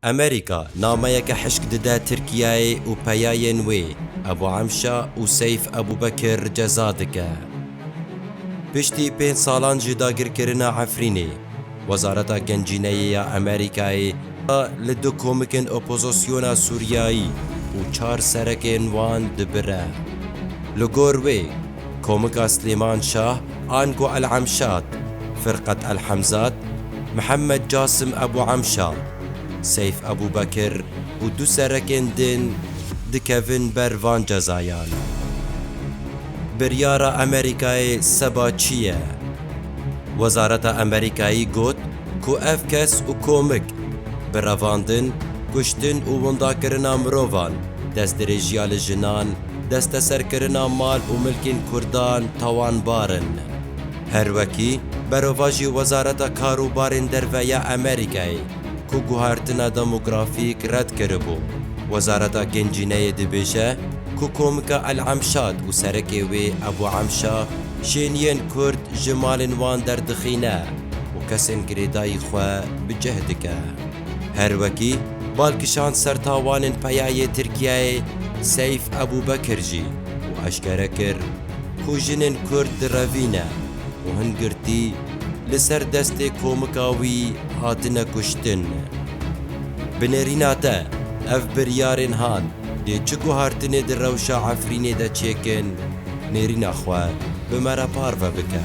Amerîka nameyeke hişk dide Tirkiyeyê û peyayên wê Ebu Emşa û Seyf Ebubekir ceza dike. Piştî pênc salan ji dagirkirina Efrînê, Wezareta Gencîneyê ya Amerîkayê da li du komikên opozosyona Sûriyayî û çar serekên wan dibire. Li gor wê, komika Slêman Şah, Ango El Emşat, Firqat El Hemzat Mihemed Casim Ebû Emşa, Seyf Ebûbekir û du serekên din dikevin ber van cezayan. Biryara Amerîkayê seba çi ye? Wezareta Amerîkayî got ku ev kes û komik bi revandin, kuştin û windakirina mirovan, destdirêjiya li jinan, desteserkirina mal û milkên Kurdan tawanbar in. Her wekî berovajî Wezareta Karûbarên Derve ya Amerîkayê ku guhertina demografîk red kiribû, Wezareta Gencîneyê dibêje ku komika El Emşad û serekê wê Ebû Emşa şêniyên Kurd ji malên wan derdixîne û kesên girêdayî xwe bi cih dike. Her wekî bal kişand ser tawanên peyayê Tirkiyeyê Seyf Ebûbekir jî, û eşkere kir ku jinên Kurd di revî ne û hin girtî li ser destê komika wî hatine kuştin. Bi nêrîna te ev biryarên hat dê çi guhertinê di rewşa Efrînê de çêkin nêrîna xwe bi me re parve bike.